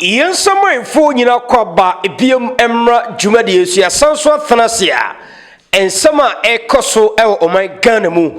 Yɛn nsamanfoɔ nyina kɔ aba biom mmra dwumadie nso yɛasan nso atena ase a nsɛm a ɛkɔ so wɔ ɔman Ghana mu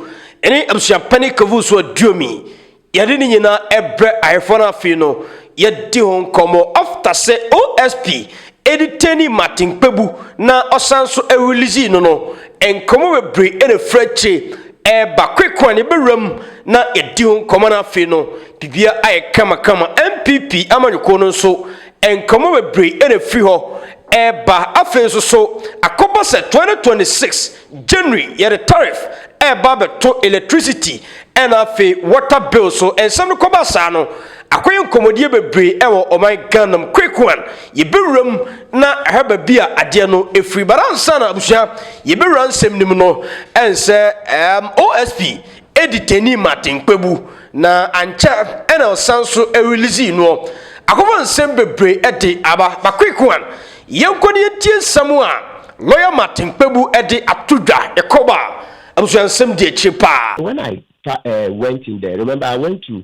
ne abusuapɛne kavu so aduomi yɛde ne nyina ɛbrɛ ahefoɔ no afei no yɛdi ho nkɔmɔ after sɛ OSP edetaining Martin Kpebu na ɔsan nso ɛrelease no no nkɔmɔ bebree na ɛfiri akyire Ɛreba kweko a na yɛbɛwura mu na yɛadi ho nkɔmmɔ no afei no, biribiara ayɛ kamakama. NPP amanyɔkuo no nso, nkɔmmɔ bebree na ɛfiri hɔ reba. Afei nso so, akɔba sɛ 2026 January yɛde tariff reba abɛto electricity ɛna afei water bill so. Nsɛm no kɔba saa no, Akɔyɛ nkɔmmɔdie bebree ɛwɔ ɔman Ghana mu quick one yɛbɛwura mu na ɛhwɛ baabi a adeɛ no ɛfiri but ansa na abusua yɛbɛwura nsɛm no mu no ɛnsɛ um, OSP ɛdi tani Martin Kpebu na ankyɛ ɛna ɔsan so ɛrelease noɔ akɔfa nsɛm bebree ɛde aba but quick one yɛnkɔ ne yɛntie nsɛm a lawyer Martin Kpebu ɛde ato dwa yɛkɔ ba abusua nsɛm di akyire paa. When I uh, went in there, remember I went to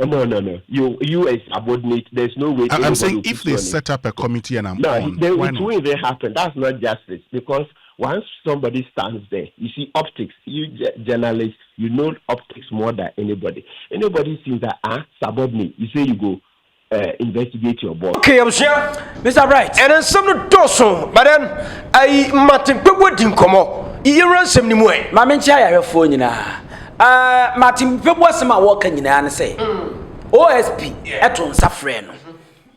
Omo no no you US subordinate there's no way anybody will put you on it no it won't even happen that's not justice because once somebody stands there you see optics you journalist you know optics more than anybody anybody sees that ah subordinate you say you go eh, investigate your boss. Okay, abusua, Mr. Bright, ɛnɛ nsɛm no dɔɔso, but then ayi mmatenkpɛbu adi nkɔmmɔ. Yɛwura nsɛm no mu ɛ. Maame nkyɛn ayarɛfoɔ nyinaa, Uh, Martin Mpebu asɛm a wɔka nyinaa ne sɛ OSP ɛto nsa frɛ no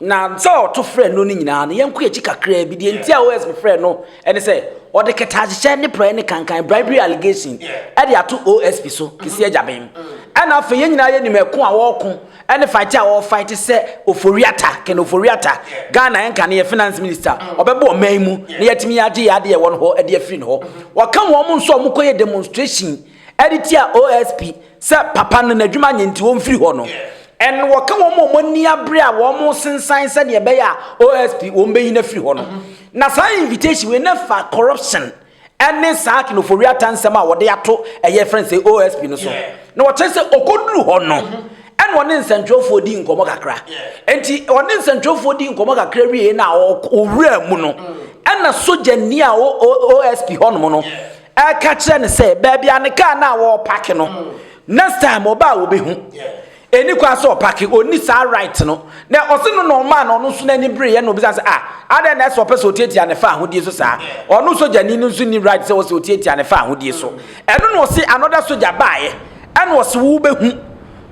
na sɛ ɔto frɛ no no nyinaa no yɛnkɔ akyi kakraa bi deɛ nti a OSP frɛ no ɛne sɛ ɔde kɛtɛahyehyɛ ne praeɛ ne kankan bribery allegation ɛde ato OSP so kɛsi agyaben ɛna afei yɛn nyinaa yɛnim ɛko a wɔko Ɛne fight a ɔɔ fight sɛ Ofori-Atta, Ken Ofori-Atta, Ghana ɛnka no yɛ finance minister, ɔbɛba ɔman yi mu na yɛatumi yɛ agye yɛn ade a ɛwɔ no hɔ de afiri no hɔ. Wɔka wɔn nso a wɔkɔyɛ demonstration de tia OSP sɛ papa no n'adwuma nyɛ nti wɔmfiri hɔ no. And wɔka wɔn a wɔn ani abere a wɔresensan sɛdeɛ ɛbɛyɛ a OSP wɔbɛyi no afiri hɔ no. Na saa invitation wei na ɛfa corruption ne saa kenofori atansɛm a wɔde ato ɛyɛ yɛfrɛ no sɛ OSP no so na wɔkyerɛ sɛ ɔkɔduru hɔ no ɛna ɔne nsɛntwerɛfoɔ di nkɔmmɔ kakra nti ɔne nsɛntwerɛfoɔ di nkɔmmɔ kakra wieɛ no a ɔwura mu no ɛna sogyani a OSP hɔnom no ɛka kyerɛ no sɛ baabi a ne kaa no a wɔpake no next time ɔba a wɔbɛhu Ɛnni kwan sɛ ɔpake, ɔnni saa right no. Na ɔse no na ɔmaa no, ɔno nso n'ani bereeɛ na ɔbisaa sɛ, ah, adɛn na ɛsɛ ɔpɛ sɛ ɔtiatia ne faahodie so saa? Ɔno sogyani no nso nni right sɛ ɔsɛ ɔtiatia ne faahodie so. Ɛno na ɔse another sogya baaeɛ ɛna ɔse wo wobɛhu,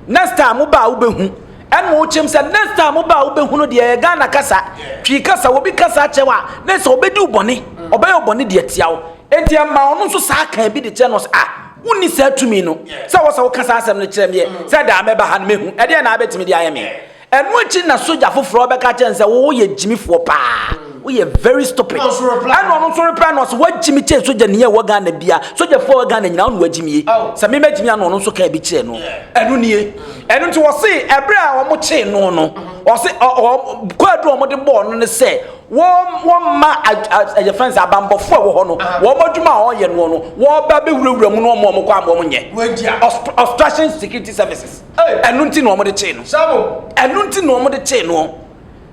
next time wo ba a wobɛhu. Ɛna ɔkyem sɛ next time wo ba a wobɛhu no deɛ ɛyɛ Ghana kasa, Twi kasa, obi ka saa kyerɛ wo a na ɛsɛ ɔbɛdi wo bɔne, ɔbɛyɛ wo bɔne de atia wo. Enti ɛmaa ɔno nso saa kaa bi de kyerɛ no sɛ ah, Wonni saa tumi no. Sɛ wɔ sɛ woka saa asɛm no kyerɛ meɛ sɛ daa mɛba ha no mɛhu ɛdeɛ na abɛtumi de ayɛ me. Ɛno akyi na sogya foforɔ bɛka kyerɛ no sɛ wo woyɛ gyimifoɔ paa. Woyɛ very stupid. Ɛna ɔno nso reply no ɔsɛ wagyimi kyɛn sogyani a ɛwɔ Ghana bia. Sogyafoɔ wɔ Ghana nyinaa ɔne wagyimie. Sɛ me mɛgyimi a na ɔno nso ka bi kyerɛ no. Ɛno nie. Ɛno nti wɔse ɛberɛ a wɔkyee no no ɔse ɔɔ kɔ aduru a wɔde bɔɔ no ne sɛ Wɔn, wɔn mma ad, ad, ɛyɛ fɛn sɛ abanbɔfoɔ a ɛwɔ hɔ no, wɔn adwuma a wɔyɛ noɔ no, wɔba abɛwurawura mu no wɔn a wɔkɔ ama wɔn nyɛ. Ost, Obstruction Security Services. Ɛno nti na wɔn de kyee no. Ɛno nti na wɔn de kyee noɔ.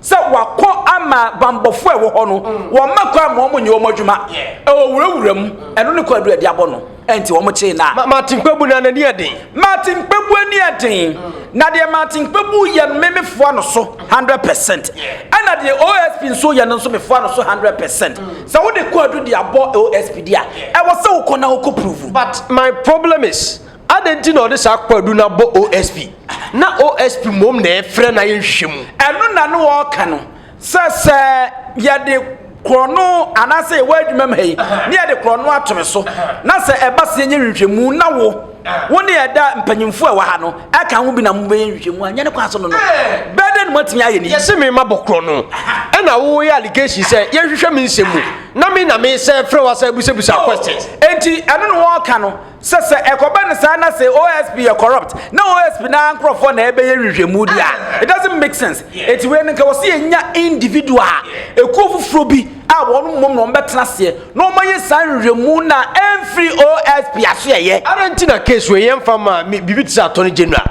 Sɛ wakɔ ama banbɔfoɔ a ɛwɔ hɔ no, wɔn mma kɔ ama wɔn nyɛ wɔn adwuma. Ɛwɔ wurawura mu. Ɛno ne kɔ adu a ɛde abɔ no. Enti wɔkyee no a. Martin Kpebu na n'ani yɛ den. Martin Kpebu ani yɛ den. Na deɛ Martin Kpebu yɛ no me mefoa no so hundred percent. Ɛna deɛ OSP nso yɛ no nso mefoa no so hundred percent. Mm. Sɛ wode kɔ adu de abɔ OSP di a, ɛwɔ sɛ wokɔ na wokɔ prove. But my problem is adɛn nti na ɔde saa kɔ adu na abɔ OSP na OSP mmom na ɛfrɛ na yɛnhwehwɛ mu. Ɛno na ne wɔka no. sɛ sɛ yɛde korɔno anaasɛ yɛwɔ adwuma mu ha yi ne yɛde korɔno ato me so na sɛ ɛba sɛ yɛnyɛ nhwehwɛmu na wo wo ne ɛda mpanyimfoɔ ɛwɔ ha no ɛka ho bi na mobɛyɛ nhwehwɛmu a nyɛ ne kwan so no no bɛdɛ no moatumi ayɛ ne yɛse me ma bɔ korɔno ɛna woyɛ allegation sɛ yɛnhwehwɛ me nsɛm mu na me na mesɛ frɛ wo asɛ busabusa question enti ɛno ne wɔka no sɛ sɛ ɛkɔba no saa na sɛ OSP yɛ corrupt na OSP na nkurɔfoɔ na ɛbɛyɛ nhwehwɛmu di a it doesn't make sense eti wei no nka wɔsi yɛnya individual a ekuo foforɔ bi a wɔn mmom na wɔn bɛtena aseɛ na wɔn ayɛ saa nhwehwɛmu na ɛnfiri OSP aso ɛyɛ. Ara nti na case wei yɛn fa ma mi biribi te sɛ attorney general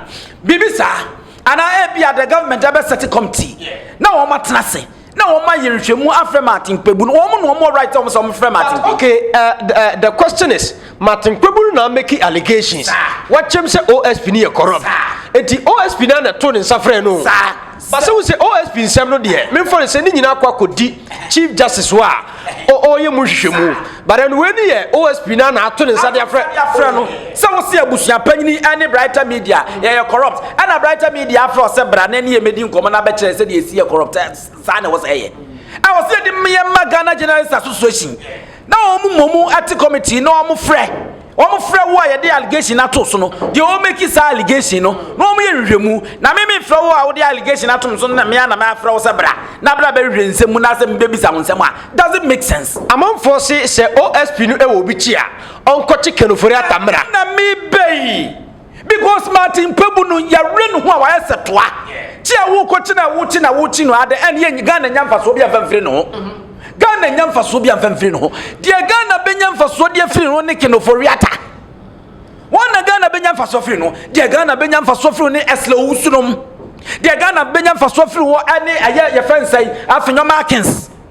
biribi saa anaa ebi a the government ɛbɛ sɛte committee na wɔn atena ase. na wɔn ayɛ nhwɛmu afrɛ Martin Kpebu no wɔn na wɔn right wɔn sɛ wɔn frɛ Martin Kpebu. okay uh, the, uh, the question is Martin Kpebu no na make allegations wakyɛm sɛ OSP ni yɛ corrupt nti OSP na na to ne nsa frɛ no. basa wo sɛ OSP nsɛm no deɛ memfa no sɛ ne nyinaa kɔ akɔdi Chief Justice hɔ a ɔyɛ mu nhwehwɛmu but ɛno wei ni yɛ osp na na ato ne nsa de afrɛ frɛ no sɛ wosi abusua panyini ɛne brighter media yɛyɛ corrupt ɛna brighter media afrɛ ɔsɛ bra na ɛne yɛ mɛdi nkɔmɔ na abɛkyerɛ sɛ deɛ ɛsi yɛ corrupt saa na ɛwɔ sɛ ɛyɛ ɛwɔ sɛ yɛde mmeyɛ ma ghana journalist association na wɔn mu mmom ɛte committee na wɔn frɛ Wɔfrɛ wo a yɛde allegation ato so no deɛ wɔn make saa allegation no na wɔn yɛ nhwehwɛmu na me me frɛ wo a wɔde allegation ato me so na me a na me afrɛ wo sɛ bra na bra bɛhwehwɛ nsɛm mu na sɛ me bɛbisa wo nsɛm a doesn't make sense. Amanfoɔ se sɛ OSP no wɔ obi kye a ɔnkɔkye Kenufori Atta mmra. Ɛno na mebɛ yi. Because Martin Kpebu no yɛwere ne ho a wayɛ sɛ toa kye a wokɔkye na wokye na wokye no ade ɛne yɛ Ghana nya mfasoɔ bi amfa mfiri ne ho Ghana nya mfasoɔ bi amfa mfiri ne ho deɛ Ghana bɛnya mfasoɔ deɛ firi no ne kenofo wiata wɔn na Ghana bɛnya mfasoɔ firi no deɛ Ghana bɛnya mfasoɔ firi ne ɛsla owusunom deɛ Ghana bɛnya mfasoɔ firi hɔ ɛne ɛyɛ yɛfɛ nsɛn afei nyɔma akins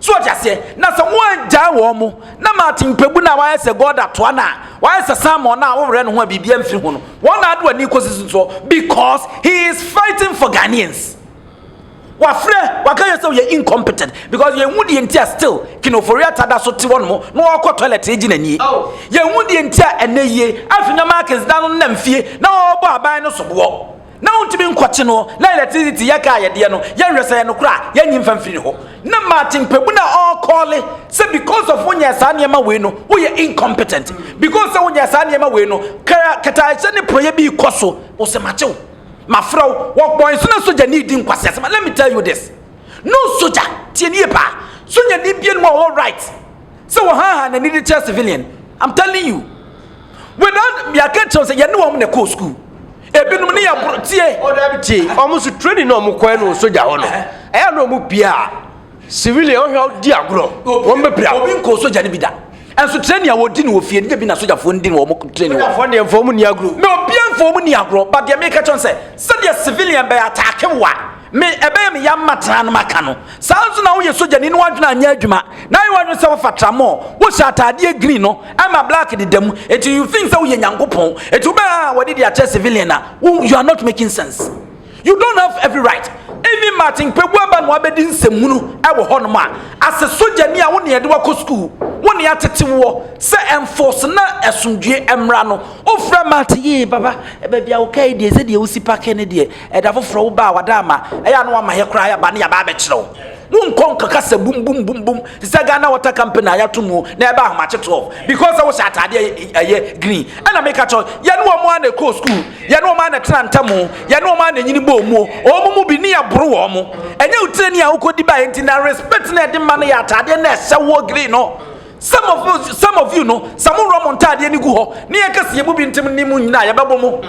So ɔte aseɛ? Na sɛ wɔangyae wɔn mo, na Martin Mpɛgu no a wayɛ sɛ God atoa no a, wayɛ sɛ Samuel no a wowerɛ ne ho a biribiara mfiri ho no, wɔn na ade wɔn ani rekɔsi so nso because he is fighting for Ghanaians. Wafrɛ, waka yɛn sɛ ɔyɛ incompetent because yɛnhu deɛ nti a still King Ofori Atta da so te hɔ nom na ɔkɔ toilet regye n'anie. Yɛnhu deɛ nti a ɛnɛ yie Afinya Markins da no nam fie na ɔrebɔ aban no soboɔ. Na wontumi nkɔkye no, na electricity yɛ kaa yɛdeɛ no, yɛnhwɛ sɛ yɛ nokorɛ a, yɛnyi mfa mfiri ne hɔ. Na Martin Kpebu na ɔrekɔɔle sɛ because of wonyɛɛ saa nneɛma wei no, woyɛ incompetent. Because sɛ wonyɛɛ saa nneɛma wei no, kra kataayɛhyɛ ne porɔeɛ bi rekɔ so, ɔsɛ makye wo, mafrɛ wo, wɔbɔ nso na sogyani redi nkwaseasɛm. Let me tell you this, no sogya, tie me yie paa, sogyani bianom a ɔwɔ right sɛ wɔhaahaa n'ani de kyerɛ civilian, I'm telling you, without, yɛaka kyerɛ wo sɛ yɛne wɔn na ɛkɔɔ school. ebinom ne yɛ boro tie ɔdabi tie ɔmo so training na ɔmo kɔɛ no sogya hɔ no ɛyɛ na ɔmo pie a civilian ɔhwɛ a ɔdi agorɔ wɔn bɛ pira obi nkɔ sogya no bi da ɛnso training a wɔdi no wɔ fie no bi na sogyafoɔ no di no wɔn training wɔ sogyafoɔ deɛ nfa ɔmo ni agorɔ na obi nfa ɔmo ni agorɔ ba deɛ meka kyɛn sɛ sɛdeɛ civilian bɛyɛ ataake wa Me, ɛbɛyɛ me ya mma tra no maka no. Saa ara nso na woyɛ sogyani na w'adwene anyɛ adwuma, na ayɛ w'adwene sɛ wofa tramɔɔ, wohyɛ ataadeɛ green no, ɛma black deda mu, enti you think sɛ woyɛ Nyankopɔn, enti wobɛ aa wɔde de akyɛ civilian a, wo, you are not making sense. You don't have every right. Even Martin Kpebu aba na wabɛdi nsɛmhunu wɔ hɔnom a, as a sogyani a wo na yɛde wakɔ sukuu, wo na yɛatete woɔ sɛ enforce na asomdwoeɛ mmra no, wofrɛ Martin, ee baba, baabi a wokae deɛ, sɛdeɛ wosi pake no deɛ, Ɛda foforɔ wo baa wada ama ɛyɛ a na wama yɛ koraa yɛba na yɛaba abɛkyerɛ wo wo nkɔ nkɔka sɛ bum bum bum bum te sɛ Ghana water company a yɛato mu na ɛba ahomakye 12 because sɛ wohyɛ ataadeɛ ɛyɛ green ɛna meka kyɛ yɛne wɔn a na ɛkɔɔ sukuu yɛne wɔn a na ɛtena ntam yɛne wɔn a na ɛnyini bɔɔ mu wɔn mu bi ne yɛboro wɔn mo ɛnyɛ wotire ni a wokɔdi baeɛ nti na respect na ɛde ma no yɛ ataadeɛ na ɛhyɛ woɔ green no some of you some of you no sɛ mo wura mo ntaadeɛ ne gu hɔ ne yɛkɛseɛ mu bi ntem ne mu nyinaa yɛbɛbɔ mo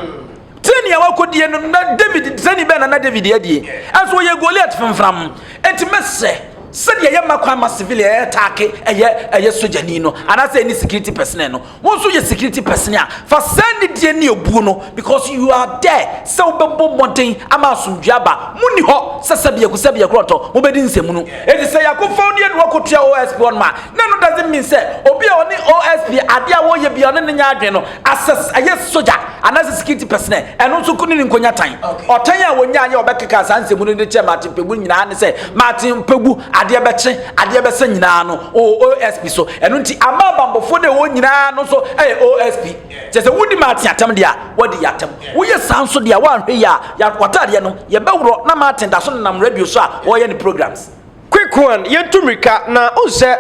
Tie nea wakodie no na David sɛni bɛn na na David adie ɛso ɔyɛ Goliath fimfram eti mɛsɛ sɛdeɛ yɛ mma kwan ma civilian ɛyɛ taake ɛyɛ ɛyɛ sogyani no anaasɛ ɛne security personnel no wɔn nso yɛ security personnel a fa sɛn ne die ne obuo no because you are there sɛ wobɛbɔ mmɔden ama asomdwe aba mu ni hɔ sɛ sɛ biako sɛ biako ɔtɔ wobɛdi nsɛmu no eti sɛ yakofa ɔdeɛ no wakotua OSP ɔnoma na no doesn't mean sɛ obi a ɔne OSP adeɛ a wɔyɛ bia ɔne ne nyɛ adwene no Asɛ ɛyɛ sogya anaasɛ security personnel, ɛno nso ko ne ne nkonya tan. Ɔtan a wɔnyaa yɛ ɔbɛkeka saa nsɛmu no de kyerɛ Martin Pegu nyinaa ne sɛ Martin Pegu adeɛ bɛkye, adeɛ bɛsɛ nyinaa no ɔwɔ OSP so. Ɛno nti ama abanbɔfoɔ de wɔn nyinaa no nso ɛyɛ OSP. Kyɛ sɛ wodi Martin atɛm deɛ a, wɔadi yɛ atɛm. Woyɛ saa nso deɛ a, woanhwɛ yie a, w'ataadeɛ no, yɛbɛworɔ na Martin da so nenam radio so a ɔreyɛ ne programs. Quick one, yɛntu mmirika na wohu sɛ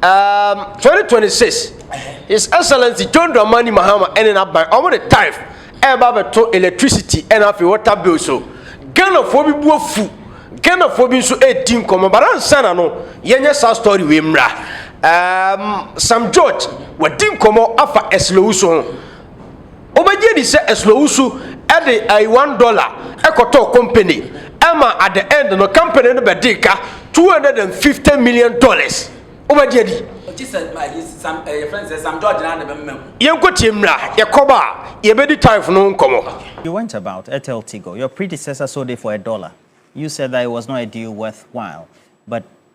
um, 2026 His Excellency John Dramani Mahama ɛne n'aban ɔmo de tariff ɛreba abɛto electricity ɛna afei water bill so. Ghanafoɔ bi bu afu, Ghanafoɔ bi nso ɛredi nkɔmmɔ but ansa na no yɛnyɛ saa story wei mmra. Um, Sam George wadi nkɔmmɔ afa ɛsilowusu ho. Wobɛgye adi sɛ Ɛsnowusu de ai one dollar kɔtɔɔ company ma at the end no company no bɛdee ka two hundred and fifty million dollars. Wobɛgye adi? Gye sɛ ayi Sam ɛɛ yɛfrɛ no sɛ Sam George na de bɛmema mu. Yɛnkɔ tie mmra, yɛkɔba a yɛbɛdi tithe no ho nkɔmmɔ. You went about, Ethel Tigo, your predecessor sold it for a dollar, you said that it was not a deal worth while, but.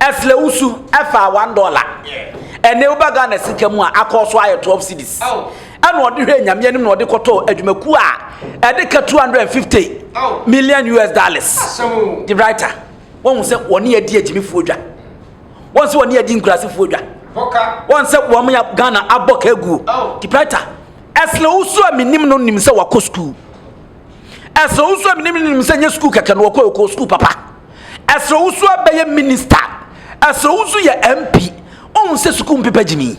Ɛsrɛ wo su ɛfa one dollar ɛne woba Ghana sika mu a akɔ so ayɛ 12 cedis ɛna ɔde hwɛ nyame anim na ɔde kɔtɔ adwumakuo a ɛde ka 250 million US dollars de writer wɔn sɛ wɔne adi agyimifoɔ dwa wɔn sɛ wɔne adi nkurasefoɔ dwa wɔn sɛ wɔn ya Ghana abɔ ka aguo de writer ɛsrɛ wo su a menim no nim sɛ wakɔ sukuu ɛsrɛ wo su a menim no nim sɛ nyɛ sukuu kɛkɛ no wɔkɔ ɛkɔ sukuu papa Ɛsrɛ wo so abɛyɛ minista. Ɛsrɛ wo so yɛ MP. Ɔhu sɛ sukuu mpepa gyimi.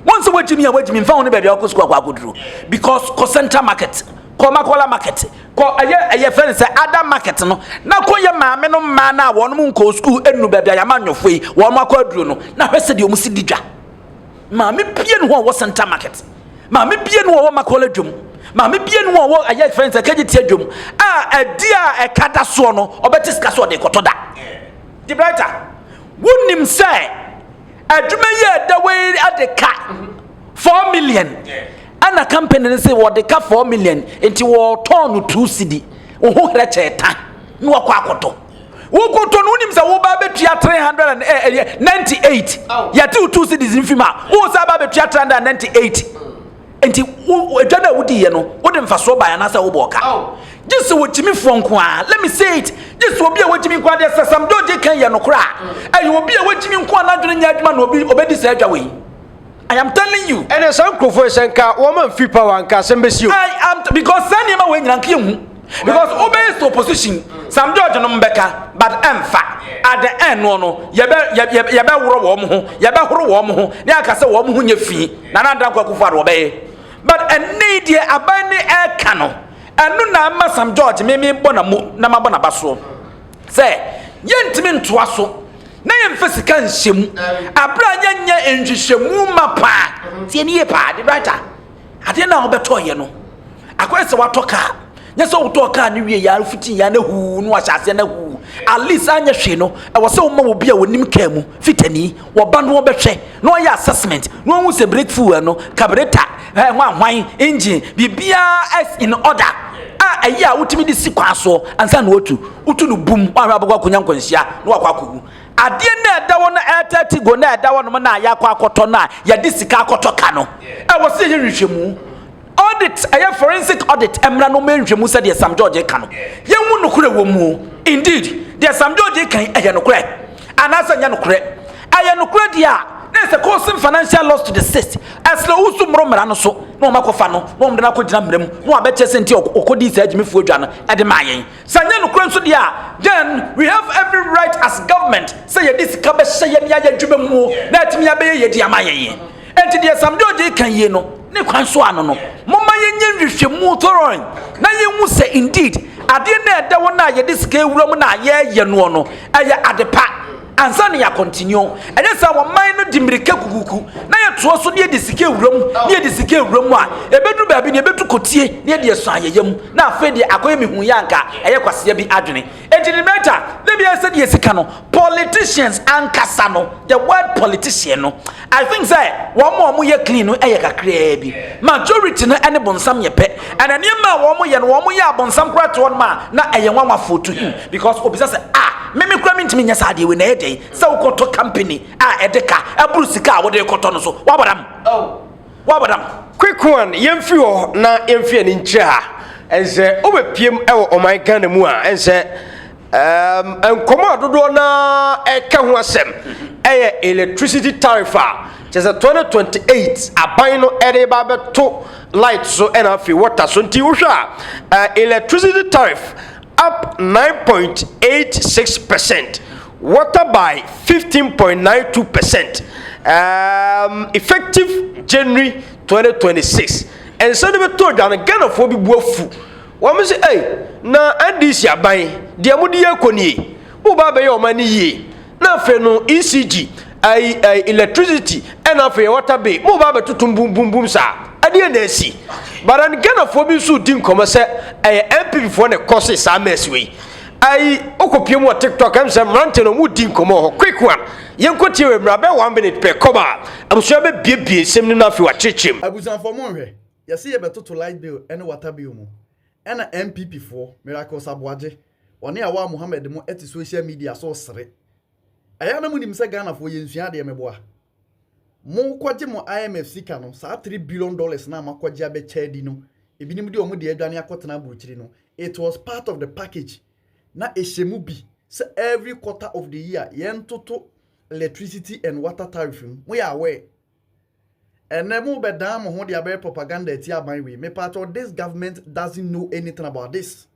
Wɔn sɛ wagyimi a wagyimi nfa ho ne baabi a wakɔ sukuu akɔ akɔduro. Because kɔ central market, kɔ makola market, kɔ ɛyɛ ɛyɛ fɛn sɛ ada market no na kɔ yɛ maame no mmaa no a wɔn nkɔ sukuu ɛnu baabi a yɛama nyɔfoɔ yi wɔn akɔ aduro no na hwɛ sɛ deɛ wɔn si di dwa. Maame bie ne hɔ a ɔwɔ Central Market. Maame bie ne hɔ a ɔwɔ Macaulay Adwam. Maame bie ne hɔ a ɔwɔ ɛyɛ fɛn sɛ kɛgye ti adwam a ɛdi a ɛka da soɔ no ɔbɛte sika so ɔde kɔtɔ da. De Brighter, wonim sɛ adwuma yi a ɛda wei ɛde ka four million ɛna company no sɛ wɔde ka four million nti wɔtɔn no two cedi. Oho herɛkyɛ ta na wakɔ akɔtɔ. wokɔtɔ no wonim sɛ woba bɛtua 398 yɛte wo two cities mfi mu a woo sɛ aba bɛtua 398 nti adwa no a wodiiɛ no wode mfasoɔ bae anaasɛ wobɔɔ ka gye sɛ wɔgyimifoɔ nko a let me say it gye sɛ obi a wɔgyimi nko a deɛ sɛ sam george kan yɛ nokorɛ a ɛyɛ obi a wɔgyimi nko a n'adwene nyɛ adwuma na obi ɔbɛdi saa adwa wei I am telling you. Ɛnɛ saa nkurɔfoɔ yi sɛ nka wɔn ma nfiri power nka asɛm bɛsi o. I am because saa nneɛma wɔ nyina nka yɛ hu because wo bɛyɛ sɛ opposition Sam George nom bɛka but ɛnfa at the end no no yɛbɛ yɛbɛ yɛbɛ worɔ wɔn ho yɛbɛ horo wɔn ho ne aka sɛ wɔn ho nyɛ fi na na adan kɔ akufo ado wɔbɛyɛ but ɛnɛ yi deɛ aban ne ɛka no ɛno na ama Sam George meme bɔ na mo na ma bɔ na ba soɔ. sɛ yɛrentumi ntoa so na yɛmfa sika nhyɛ mu bere a yɛnyɛ nhwehwɛmu ma paa tie ne yie paa de right a adeɛ no a wobɛtɔɔyɛ no akɔyɛ sɛ watɔ kaa nyɛ sɛ wotɔɔ kaa no wie yɛa fiti yɛa no huu no ahyɛ aseɛ no huu at least anyɛ hwee no ɛwɔ sɛ woma wɔ bi a wɔnim kaa mu fitani Wɔba no wɔbɛhwɛ na wɔyɛ assessment na wɔn hu sɛ brake fuel no, carburetor, ɛɛ eh, hwan hwan, engine, biribiara is in order a ɛyɛ a wotumi de si kwan soɔ ansa na wɔtu. Wotu no bum, wɔahwɛ abɛkɔ akɔnya nkwanhyia na wakɔ akɔwu. Adeɛ na ɛda hɔ na ɛɛtɛ ti go na ɛda hɔ nom na yɛakɔ akɔtɔ no a yɛde sika akɔtɔ ka no. Ɛwɔ sɛ yɛyɛ nhwehwɛmu. Audit, ɛyɛ forensic audit mmra no mɛ nhwɛmu sɛ deɛ Sam George reka no yɛnhu nokorɛ wɔ mu o. Indeed, deɛ Sam George reka yi ɛyɛ nokorɛ anaasɛ ɛnyɛ nokorɛ? Ɛyɛ nokorɛ deɛ a na ɛsɛ causing financial loss to the state, ɛsrɛ wo so mmoro mmara no so na wɔn akɔfa no na wɔn de no akɔgyina mmara mu na wɔabɛkyɛ sɛ nti ɔkɔdii saa agyimifoɔ dwa no ɛde maa yɛn. Sɛ ɛnyɛ nokorɛ nso deɛ a then we have every right as government sɛ yɛde sika bɛhyɛ yɛn yɛ adwuma mu o na atumi abɛyɛ yɛn de ama yɛn. Enti deɛ Sam George reka yie no, ne kwan so ano no, momma yɛnyɛ nhwehwɛmu thorough na yɛnhu sɛ indeed adeɛ no a ɛda hɔ no a yɛde sika awura mu no a yɛreyɛ noɔ no, ɛyɛ ade pa ansa na yɛ continue. Ɛnyɛ saa wɔman no di mmirika kukuku na yɛtoa so na yɛde sika awura mu na yɛde sika awura mu a, ɛbɛduru baabi no yɛbɛtu kɔtie na yɛde asua yɛn yam na afei deɛ akɔyɛ mehuiɛ a anka ɛyɛ kwasea bi adwene. Enti ne mɛta ne bia sɛ deɛ sika no politicians ankasa no the word politician no I think sɛ wɔn a wɔn yɛ clean no yɛ kakraa bi majority no ɛne bonsam yɛ pɛ ɛna nneɛma a wɔn yɛ no wɔn yɛ abonsam koraa to wɔn ma na ɛyɛ nwanwafoɔ to him because obisa sɛ a mimi koraa mi ntumi nyɛ saa deɛ wei na ɛyɛ dɛn sɛ wokɔtɔ company a ɛde ka ɛboro sika a wode kɔtɔ no so wabɔ dam. Oh. Wabadam. Quicquan yɛmfiri hɔ na yɛmfi ani nkyerɛ ha ɛnsɛ wobɛpiem wɔ ɔman Ghana mu a ɛnsɛ nkɔmɔ a dodoɔ no ɛka ho asɛm ɛyɛ electricity tariff a kyɛ sɛ 2028 aban no ɛde ba bɛto light so ɛna afei water so nti wohwɛ a electricity tariff up 9.86 percent Water by 15.92 percent um, effective January 2026. Ɛnsɛ no bɛtɔ dwa no, Ghanafoɔ bi bu afu. Wɔn sɛ, ei, na NDC aban, deɛ mode yɛ kɔ nie, moba abɛyɛ ɔman no yie. Na afei no, ECG, ɛyi, ɛyi, electricity, ɛna afei water bill, moba abɛtoto mbumbumbum saa. Ɛdeɛ na asi. But then Ghanafoɔ bi nso di nkɔmmɔ sɛ ɛyɛ NPP foɔ na ɛkɔ se saa mess wei. Ayi wokɔpie mu wɔ tiktok ɛm sɛ mmerante no ɔmo di nkɔmɔ hɔ quick one yɛnkɔ tie wei mmra bɛyɛ one minute pɛ kɔba abusua bɛbiebie nsɛm no na afei wakyerekyerem. Abusuafoɔ monhwɛ, yɛse yɛbɛtoto light bill ne water bill mu, ɛna NPP foɔ, Miracles Aboagye, ɔne Awaa Mohammed mo te social media so resere. Ɛyɛ a na monim sɛ Ghanafoɔ yɛnsua adeɛ meboa? Monkɔgye mo IMF sika no, saa three billion dollars no a moakɔgye abɛkyɛ adi no, ebinom de wɔn de adwane akɔtena aburokyiri no, it was part of the package, na ɛhyɛ mu bi sɛ every quarter of the year yɛntoto electricity and water tariff mu, moyɛ aware? Ɛnnɛ mobɛdan mo ho de abɛyɛ propaganda atia aban wei, mepaatwɔ this government doesn't know anything about this.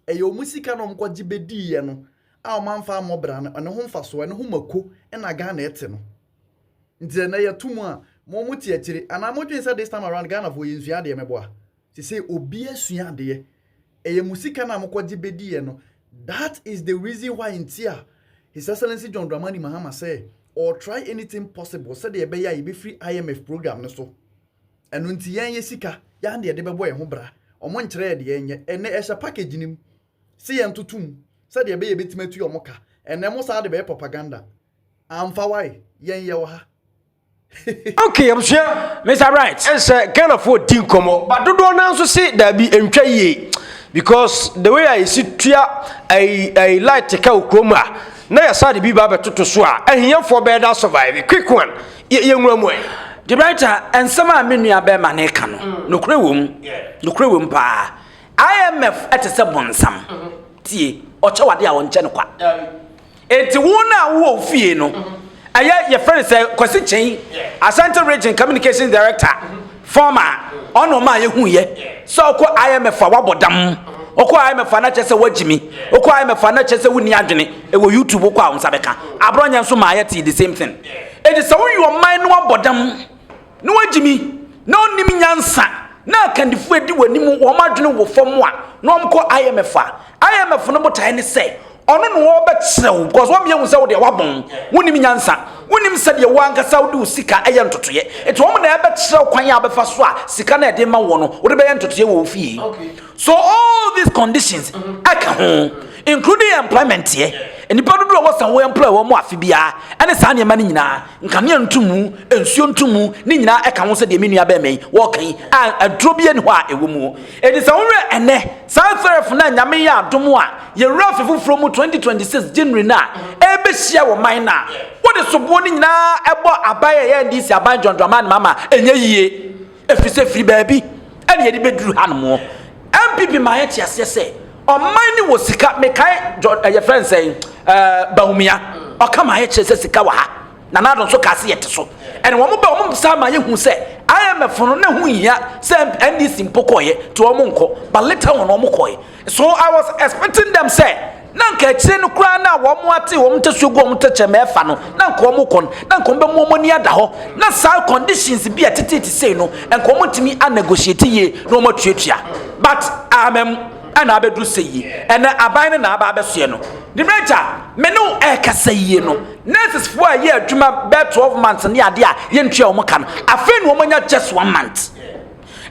Ɛyɛ wɔn sika na wɔkɔgye bɛdiiɛ no a wɔamfa ammɔ bra no, ɛno ho mfasoɔ, ɛno ho mako na Ghana ɛte no. Nti sɛ nnɛ yɛto mu a, mo mo te akyire, anaa mo dwene sɛ this time around Ghanafoɔ yɛnsua adeɛ mɛboa? Sesei obiara asua adeɛ. Ɛyɛ mo sika no a mokɔgye bɛdiiɛ no, that is the reason why nti a His Excellency John Dramani Mahama sɛ ɔretry anything possible sɛdeɛ ɛbɛyɛ a yɛbɛfiri IMF program no so. Ɛno nti yɛn yɛ sika yɛa na yɛde bɛbɔ yɛn ho bra. Wɔn nkyerɛ yɛ deɛ yɛn nyɛ. Ɛnɛ ɛhyɛ package no mu se yɛn toto mu sɛdeɛ ɛbɛyɛ yɛbɛtumi atua wɔn ka. Ɛnɛ mo saa de bɛyɛ propaganda. Amfa wae yɛn yɛ wɔ ha. Okay abusua Mister Bright ɛnsɛ Ghanafoɔ di nkɔmɔ but dodoɔ naa nso se daabi ɛntwa yie because the way a yɛsi tua ɛyi ɛyi light ka wɔ kurom a na yɛsa de bi ba abɛtoto so a ahiafoɔ bɛyɛ da survive quick one yɛnwura mu ɛ de writer nsɛm a me nua bɛrima no ka no mm. nokorɛ wɔ mu nokorɛ wɔ mu paa imf ɛte sɛ bonsam mm-hmm. tie ɔkyɛ wade a ɔnkyɛ no kwa enti wo no a wowɔ fie no mm-hmm. ɛyɛ yɛfrɛ no sɛ kwasi kyɛn asante region communications director mm-hmm. Form a ɔna ɔma a yɛhu yɛ sɛ ɔkɔ IMF a wabɔ dam ɔkɔ IMF a na kyerɛ sɛ wagyimi ɔkɔ IMF a na kyerɛ sɛ wonni adwene ɛwɔ YouTube ɔkɔ a ɔnsa bɛka abrɔnyɛ nso maa yɛtee the same thing ɛti sɛ woyi ɔman na wabɔ dam na wagyimi na ɔnnim nyansa na akandifoɔ ɛdi wɔ anim wɔn adwene wɔ fam a na wɔn kɔ IMF a IMF no botaeɛ ne sɛ Ɔno na ɔbɛkyerɛ wo because wɔn yɛhu sɛ wo deɛ wabɔn wonim nyansa wonim sɛdeɛ wo ankasa wode wo sika ɛyɛ ntotoyɛ nti wɔn na ɛbɛkyerɛ wo kwan a bɛfa so a sika na ɛde ma wɔ no wode bɛyɛ ntotoyɛ wɔ wo fie so all these conditions ɛka ho including employment yɛ nnipa dodoɔ wɔ sɛ wo employ wɔn afe biara ɛne saa nneɛma no nyinaa nkanea ntumu nsuo ntumu ne nyinaa ɛka ho sɛ deɛ me nua bɛrima yi wɔka yi a aduro bi ani hɔ a ɛwɔ mu Enti sɛ wohwɛ ɛnnɛ, saa Therefore no a Nyame yɛ adom a yɛwura afe foforɔ mu 2026 January no a ɛrebɛhyia wɔ man no a wode soboɔ no nyinaa bɔ aban a ɛyɛ NDC aban John Dramani Mahama a, ɛnyɛ yie. Ɛfiri sɛ firi baabi na yɛde bɛduru hanom. NPP ma yɛte aseɛ sɛ ɔman no wɔ sika, mekae John, yɛfrɛ no sɛn, Bawumia, ɔka ma yɛkyerɛ sɛ sika wɔ ha. Nana Addo nso kaa sɛ yɛte so. Ɛna wɔn ba wɔn saa ma yɛhu sɛ IMF no na ho nhia sɛ NDC mpo kɔeɛ nti wɔn nkɔ but later wɔn wɔn kɔe. So I was expecting them sɛ na nka akyire no koraa na wɔn ate wɔn ntasuo gu wɔn tɛkyɛ ma ɛfa no na nka wɔn kɔ no na nka wɔn bɛmu wɔn ani ada hɔ na saa conditions bi a ɛtetete sei no nka wɔn ntumi a negotiate yie na wɔn atuatua but amam ɛna abɛduru sɛ yie ɛna aban no na aba abɛsoɛ no. Debrɛgya me ne wo ɛkasa yie no. Nurses foɔ a ɛyɛ adwuma bɛɛ twelve months ne adeɛ a yɛntua wɔn ka no afei na wɔn anya just one month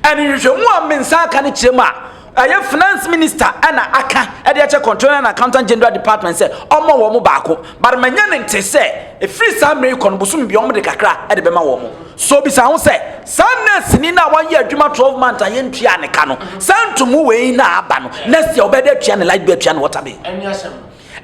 ɛne nhwehwɛmu a me nsa aka no kyerɛ mu a ɛyɛ finance minister ɛna aka ɛde akyɛ controller and accountant general department sɛ ɔmɔ wɔn baako but manya ne nte sɛ ɛfiri saa mmerɛ yi kɔ no bosom bia wɔn de kakra ɛde bɛma wɔn so bisa ho sɛ saa nurse ni na wɔayɛ adwuma twelve months a yɛntua ne ka no saa ntomu wei na aba no next year wɔbɛde atua ne light bill atua ne water bill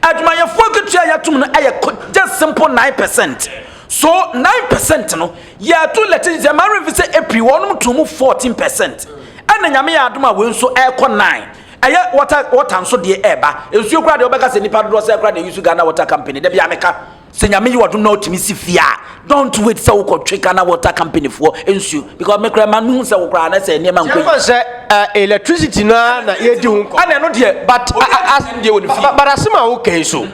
Adwumayɛfo akatua a yɛatum no yɛ just simple nine percent. So nine percent no, yɛato lɛte sɛ mmaa remfi sɛ April wɔnom to mu fourteen percent. Ɛna nyame yɛ adom a wei nso ɛrekɔ nine. Ɛyɛ water water nso deɛ ɛreba. Nsuo kura deɛ wɔbɛka sɛ nipa dodoɔ sɛ kura deɛ yusu Ghana Water Company da bi a meka. Sɛ nyame yɛ ɔdom na ɔtumi si fie a don't wait sɛ wokɔtwe Ghana water company foɔ nsuo because me koraa ma no hu sɛ wo koraa na sɛ nneɛma nkɔ yi. sɛ uh, electricity no ara na yɛdi ho nkɔ. ɛna ɛno deɛ but asɛm deɛ wɔ ne fie. but asɛm a woka yi so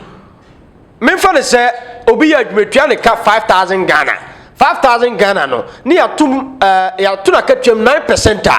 memfa no sɛ obi yɛ adwuma tua ne ka 5000 Ghana 5000 Ghana no ne yɛatom uh, yɛato no akatuam 9 percent a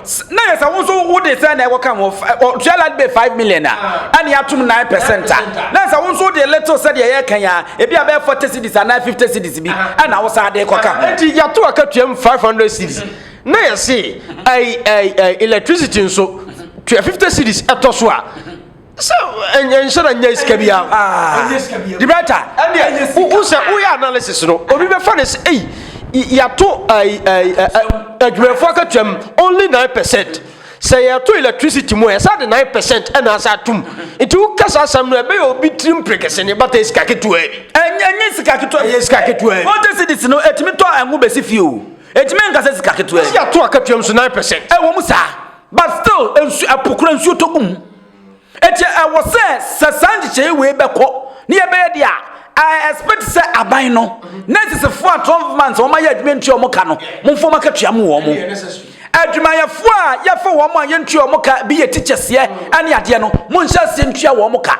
na yɛ sɛ wo nso wode sɛ na ɛkɔka ho ɔtua land bay five million a ɛne atom nine percent a na sɛ wo nso wode little sɛdeɛ yɛka yi a ebi a bɛyɛ forty cities anaa fifty cities bi ɛna wo saa de kɔka ho nti yɛato akatuam five hundred cities na yɛse ɛyi ɛyi electricity nso tua fifty cities ɛtɔ so a sɛ ɛnhyɛ na nyɛ sika bi a dibrata wo sɛ woyɛ analysis no obi bɛfa ne sɛ ei yɛato adwumayɛfoɔ akatuam only 9 percent sɛ yɛto electricity mu a ɛsɛ de 9 percent ɛna asɛ atom nti woka saa asɛm no ɛbɛyɛ obi tirim prekɛse ne bata sika ketewa bi ɛnyɛ sika ketewa ɛyɛ sika ketewa bi wɔte sedis no ɛtumi tɔ ɛngo bɛsi fie o ɛtumi nkasɛ sika ketewa bi yɛto akatuam so 9 percent ɛwɔ mu saa But still nsu ɛpo kura nsuo tɔ gu mu eti ɛwɔ sɛ sɛ saa nhyehyɛe wei bɛkɔ ne yɛbɛyɛ deɛ a I expect sɛ aban no nɛsesefo a twelve months wɔn ayɛ adwuma ntua wɔn ka no momfa wɔn akatua mu wɔn adwumayɛfo a yɛfa wɔn a yɛntua wɔn ka bi yɛ teachers yɛ ɛne adeɛ no monhyɛ aseɛ ntua wɔn ka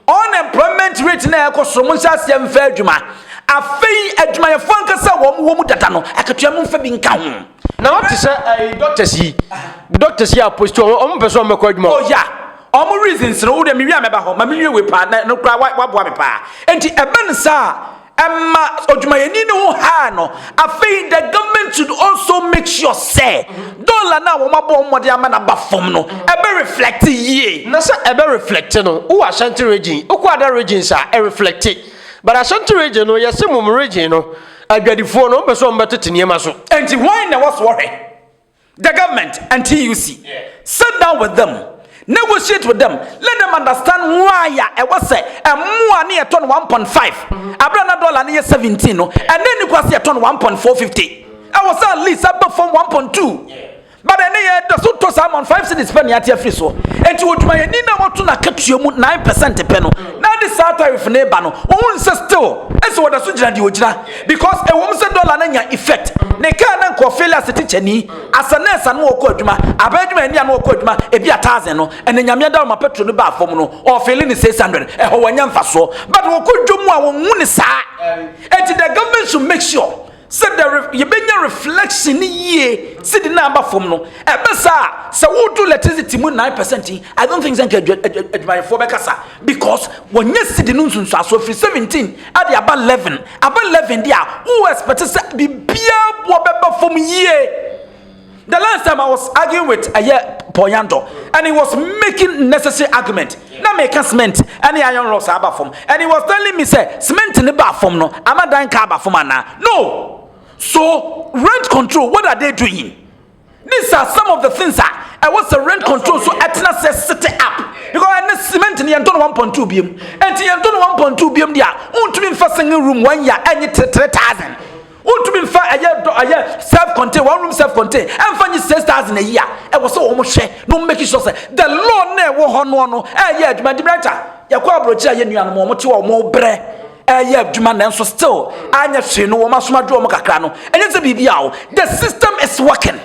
unemployment rate na ɛkɔ soro monhyɛ aseɛ mfa adwuma afei adwumayɛfo ankasa wɔn wɔ mu dada no akatua momfa bi nka ho. Na wɔn te sɛ ɛyi doctors yi. Doctors yi apostle wɔn wɔn pɛ sɛ wɔn bɛkɔ adwuma. Oh ya. Wɔn reasons no wode mewi a mɛba hɔ ma menwie wei paa na no kura waboa me paa. Enti ɛba ne saa ɛma odwumayɛni no ho haa no. Afei the government should also make sure sɛ dollar no a wɔn abɔ wɔn mmɔden ama no aba fam no ɛbɛ reflect yie. Na sɛ ɛbɛ reflect no wowɔ Ashanti region wokɔ ada regions a ɛreflect but Ashanti region no yɛse mom region no Adwadifoɔ no, wɔpɛ sɛ wɔbɛtete nneɛma so. Enti hwan na ɛwɔ so wɔhwɛ? The government and TUC. Yeah. Sit down with them. Negotiate with them. Let them understand why a ɛwɔ sɛ ɛmoa ne yɛtɔ no 1.5. Abira na dɔla ne yɛ 17 no. Ɛnɛ ni kwasi yɛtɔ no 1.450. Ɛwɔ sɛ at least ɛbɛ fam 1.2. But ɛnɛ yɛ da so tɔ saa man five cities pɛ ne ate afiri soɔ. Enti odwumayɛni na wɔto n'akatua mu nine percent pɛ no na ɛde saa tariff no reba no, wɔhu no sɛ still ɛsɛ wɔda so gyina deɛ ɔgyina. Because ɛwɔ mu sɛ dollar no anya effect, ne car no anka ɔfeeli as a tikyani, as a nurse a na ɔkɔ adwuma, aban adwumayɛni a na ɔkɔ adwuma ebi a thousand no, ɛnɛ Nyame adom ma petrol no baa fam no ɔfeeli ne six hundred. Ɛhɔ wanya mfasoɔ. But wɔkɔ dwom a wɔnhu no saa. Enti the government should make sure. Sɛ dɛ re yebenya reflection no yie sidi na aba fam no, ɛbɛ saa a, sɛ woto electricity mu nine percent yi, I don't think sɛ nka adwa adwa adwumayɛfoɔ bɛkasa because wɔnyɛ sidi no nsunsuasoɔ firi seventeen de aba eleven, aba eleven deɛ a, wo expect sɛ biribiara boɔ bɛba fam yie. The last time I was arguing with ɛyɛ Paul Yandor and he was making necessary argument. Na me ka cement ɛne iron rocks aba fam and he was telling me sɛ cement ne ba fam no ama dan ka aba fam ana? No. So rent control what are they doing? These are some of the things a ɛwɔ sɛ rent control so ɛtena sɛ set up because ɛne cement ne yɛntɔ no 1.2 biam. Ɛnti yɛntɔ no 1.2 biam deɛ a wontumi mfa single room one year ɛnye 3000. Wontumi mfa ɛyɛ dɔ ɛyɛ self contain one room self contain ɛmfa nye six thousand ayi a ɛwɔ sɛ wɔn hwɛ na wɔn make sure sɛ the law na ɛwɔ hɔ no no ɛyɛ adwuma di mɛnta yɛkɔ aburokyerɛ a yɛ nuanom wɔn te wɔn brɛ ɛyɛ adwuma nanso still anyɛ hwee no wɔn asoma dwo wɔn kakra no ɛnyɛ sɛ biribi a o the system is working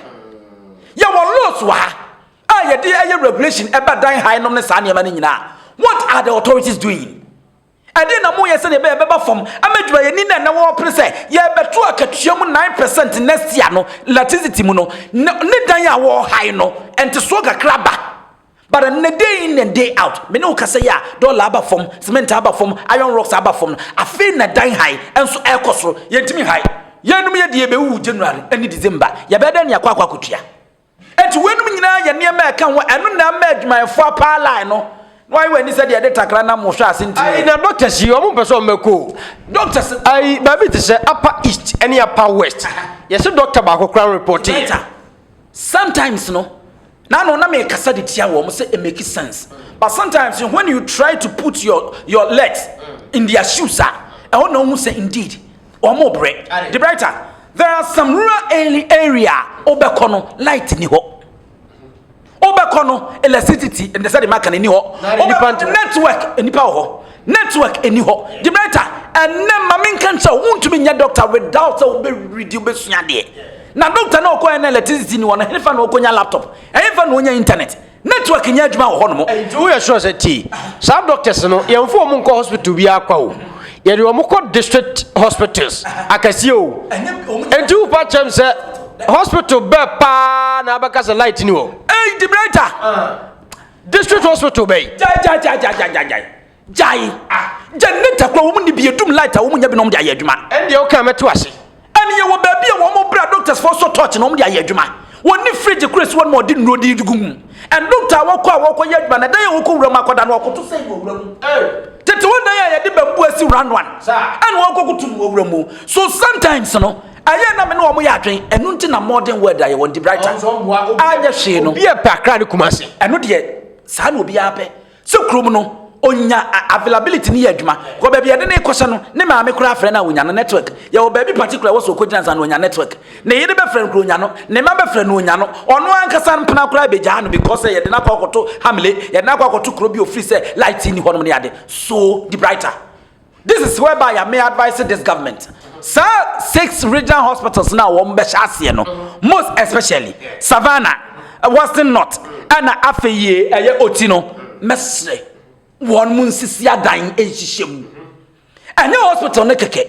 yɛ wɔ laws wɔ ha a yɛde ɛyɛ regulation ɛbɛ dan ha nom ne saa nneɛma no nyinaa what are the authorities doing. Ɛdeɛn na moyɛ sɛdeɛ ɛbɛyɛ ɛbɛba fam ama adwumayɛni no a na wɔrepere sɛ yɛrebɛto akatua mu nine percent next year no electricity mu no na ne dan a wɔrehae no ntesoɔ kakra ba but ɛnnɛ day in and day out me ne wo kasa yi a dɔla aba fam cement aba fam iron rocks aba fam no afei na dan hae nso ɛrekɔ soro yɛntumi nhae yɛnum yɛ deɛ yɛbɛwuwu January ne December yɛbɛyɛ dɛn ne akɔ akɔ akotua Enti weinom nyinaa yɛ nneɛma a ɛka ho, ɛno na ɛma adwumayɛfoɔ apaa line no na wɔayɛ wɔn ani sɛ deɛ yɛde takra nam wɔhwɛ ase ntini. Ayi na doctors yi wɔn mpɛ sɛ wɔn bɛkɔ o. Doctors no. Ayi baabi te sɛ upper east ɛne upper west yɛsɛ doctor baako koraa report yɛ. Sometimes no na ano na mɛ kasa de tia wɔn sɛ it make sense but sometimes when you try to put your your legs in their shoes a ɛhɔ na wɔn hu sɛ indeed Wɔn brɛ. The brighter. There are some rural area wobɛkɔ no light ni hɔ. Wobɛkɔ no electricity ɛnna sɛ de ma kan ni hɔ. Wobɛkɔ network nipa wɔ hɔ. Network ni hɔ. The brighter. Ɛnna maame nka nkyɛn o ntumi nyɛ doctor without sɛ wobɛ redi wobɛ sua deɛ. Na doctor na ɔkɔ ɛnna electricity ni hɔ no ɛnfa na ɔkɔ nya laptop ɛnfa na ɔnya internet. Network nyɛ adwuma wɔ hɔnom. Nti woyɛ sure sɛ tie saa doctors no yɛnfo wɔn nkɔ hospital bi akwa o yɛde wɔn kɔ district hospitals akɛseɛ o nti wopa kyɛm sɛ hospital bɛ paa na abɛka sɛ light ni hɔ. Ei debrater ah. district hospital bɛyi. Jai jai jai jai jai jai. Gyae! Ah! Generator kura wɔn nni bi, yɛdum light a wɔn nya bi na wɔn de ayɛ adwuma. Ɛndeɛ wo kaa mɛto ase. Ɛnneɛ wɔ baabi a wɔn bra doctors foɔ sɔ torch na wɔn de ayɛ adwuma. Wɔn nni fridge kura si hɔ nom a wɔde nnuro de gu mu. And doctor a wɔkɔ a wɔkɔ yɛ adwuma no, dan a wɔkɔ wura mu akɔda no wɔkɔto sɛn no wɔ wura mu. Ei! Tete hɔ dan a yɛde bamboo asi round one ɛna wɔkɔ koto no wɔ wura mu. So sometimes no, ɛyɛ na me ne wɔn yɛ adwen, ɛno nti na modern world a yɛwɔ no, debraita, anyɛ hwee no. Obi a pɛ Accra ne Kumasi. Ɛno deɛ, saa na obiara pɛ. Sɛ kurom no onya availability no yɛ adwuma kɔ baabi yɛde ne kɔhyɛ no ne maame koraa frɛ no a onya no network yɛwɔ baabi particular wɔ so okogyina nsa no onya network ne yere bɛfrɛ no kora onya no ne ma bɛfrɛ no onya no ɔno ankasa mpena koraa bɛgyaa no because sɛ yɛde no akɔ akɔto hamle yɛde no akɔ akɔto kuro bi ofiri sɛ light ni hɔnom ne ade so di brighter This is where by me advise this government saa six regional hospitals na wɔn bɛhyɛ aseɛ no most especially Savannah, eh, Western North ɛna eh, afei yie ɛyɛ eh, oti no mɛsrɛ wɔn mu nsisi adan nhyehyɛ mu ɛnyɛ hospital no kɛkɛ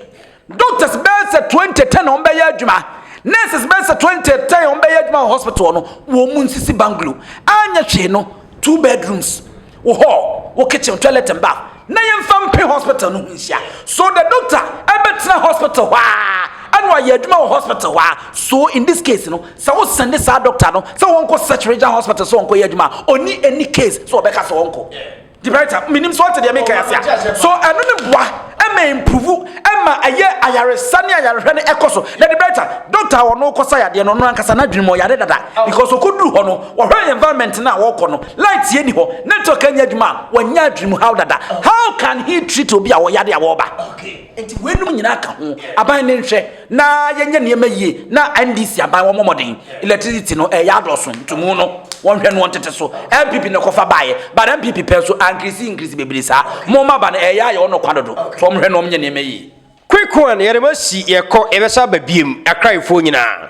doctors bɛyɛ sɛ twenty ten na wɔn bɛyɛ adwuma nurses bɛyɛ sɛ twenty ten wɔn bɛyɛ adwuma wɔ hospital no wɔn mu nsisi bungalow anyɛ hwee no two bedrooms. Wo hall, wo kitchen, wo toilet and bath. Na yɛmfa mpe hospital no ho nhyia. So the doctor ɛbɛtena hospital hɔ a ɛna wayɛ adwuma wɔ hospital hɔ a. So in this case no, sɛ wo sende saa doctor no sɛ ɔnkɔ such regional hospital sɛ ɔnkɔyɛ adwuma a, ɔnni any case sɛ ɔbɛka sɛ ɔnkɔ. Debrita, menim sɛ ɔte deɛ meka ase a. So ɛno no boa ɛma improve ɛma ɛyɛ ayaresa ne ayarehwɛ no ɛkɔ so. Na Debrita, doctor a ɔno wokɔsa yadeɛ no ɔno ankasa n'adwene mu ɔyare dada because ɔkɔduru hɔ no wɔhwɛ environment no a wɔkɔ no Light yɛ ni hɔ, network ɛnyɛ adwuma a, wanya adwenem haw dada. How can he treat obi a ɔyare a wɔreba? Nti weinom nyinaa ka ho. Aban no nhwɛ na yɛnyɛ nneɛma yie na NDC aban wɔmmɔ mmɔden. Electricity no ɛyɛ adɔɔso, ntumu no wɔnhwɛ no wɔntete so. NPP na ɛkɔfa baeɛ but NPP pɛ nso ankirisi nkirisi bebree saa. Momma aba no ɛyɛ ayɛ ɔnɔ kwa dodo nti wɔnhwɛ na wɔnyɛ nneɛma yie. Quick one yɛde mo asi yɛkɔ yɛbɛsa aba biem Akrayefoɔ nyinaa.